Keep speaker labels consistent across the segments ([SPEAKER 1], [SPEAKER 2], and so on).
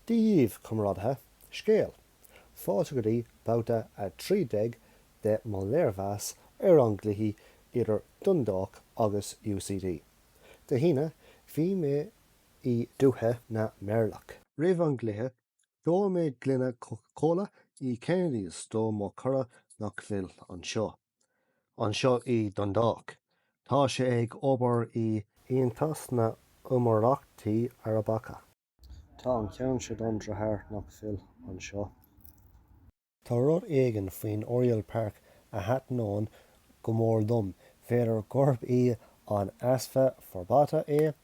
[SPEAKER 1] Dia daoibh, Comrádaithe, Scéal, Fáilte go dtí babhta 13 de mo léirmheas ar an gcluiche idir Dundalk agus UCD. Dé hAoine, bhí mé i dúiche na meirleach. Roimh an gcluiche, d'ól mé gloine Coca Cola i Kennedy's do mo chara nach bhfuil anseo. Anseo i Dundalk. Tá sé ag obair i Aontas na nÉimíríochtaí Arabacha. Tá an ceann seo don deartháir nach bhfuil anseo. Tá rud éigin faoin Oriel Park a thaitníonn go mór liom. B'fhéidir gurb í an easpa forbartha é?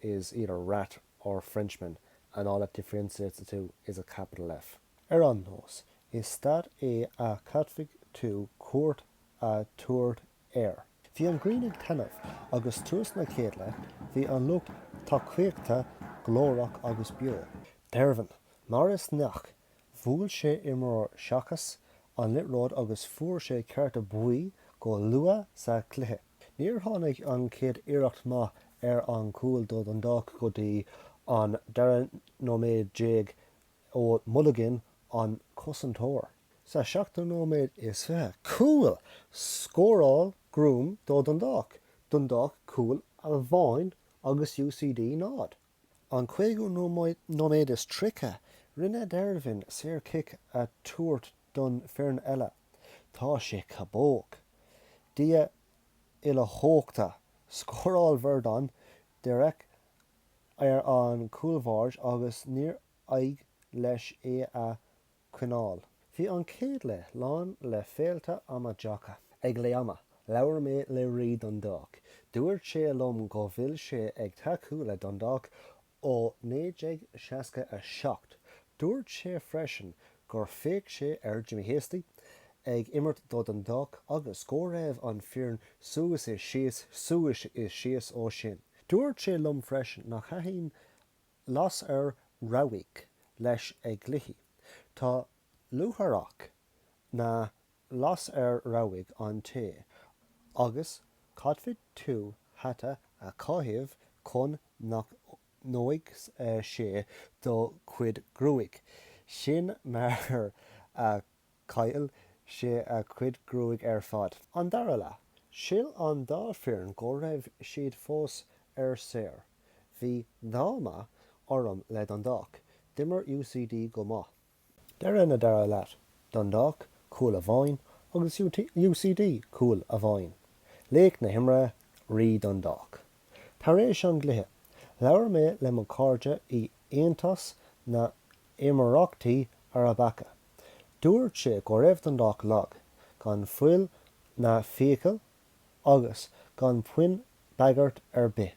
[SPEAKER 1] is either rat or Frenchman and all that differentiates the two is a capital F. Ar aon nós, is staid é a caithfidh tú cuairt a tabhairt air. Bhí an ghrian ag taitneamh agus tús na céad leath bhí an lucht tacaíochta glórach agus beo. Dervin mar is gnách, bhuail sé imreoir seachas an liathróid agus fuair sé cárta buí go luath sa chluiche. Níor tháinig an chéad iarracht maith ar an gcúl do Dundalk go dtí an dara nóiméad déag ó Mulligan, an cosantóir. Sa seachtú nóiméad is fiche, cúl! Scóráil Groome do Dundalk, Dundalk cúl amháin agus UCD náid. An cúigiú nóiméad is tríocha, rinne Dervin saorchic a tabhairt don fhoireann eile. Tá sé cabóg. Dia uilechumhachtach, scóráil Verdon díreach ar an chúlbáire agus níor éirigh leis é a choinneáil. Bhí an chéad leath lán le féilte amaideacha. Ag leath ama, labhair mé le Rí Dundalk. Dúirt sé liom go bhfuil sé ag tacú le Dundalk ó 1967. Dúirt sé freisin gur fhéach sé ar Jimmy Hasty ag imirt do Dundalk agus go raibh an foireann suas is síos suas is síos ó sin. Dúirt sé liom freisin nach thaitin Lasair Rabhaidh leis ag cluichí. Tá luaithreach na lasair rabhaidh an-te agus caithfidh tú hata a chaitheamh chun nach ndóigh sé do chuid gruaig. Sin mar a chaill sé a chuid gruaig ar fad. An dara leath, shíl an dá foireann go raibh siad fós ar saoire. Bhí díomá orm le Dundalk. D'imir UCD go maith. Deireadh na dara leath, Dundalk, cúl amháin, agus UCD, cúl amháin. Laoch na himeartha, Rí Dundalk. Tar éis an gcluiche, labhair mé le mo chairde i Aontas na nÉimíríochtaí Arabacha. Dúirt sé go raibh Dundalk lag, gan fuil na fiacail agus gan puinn bagairt ar bith.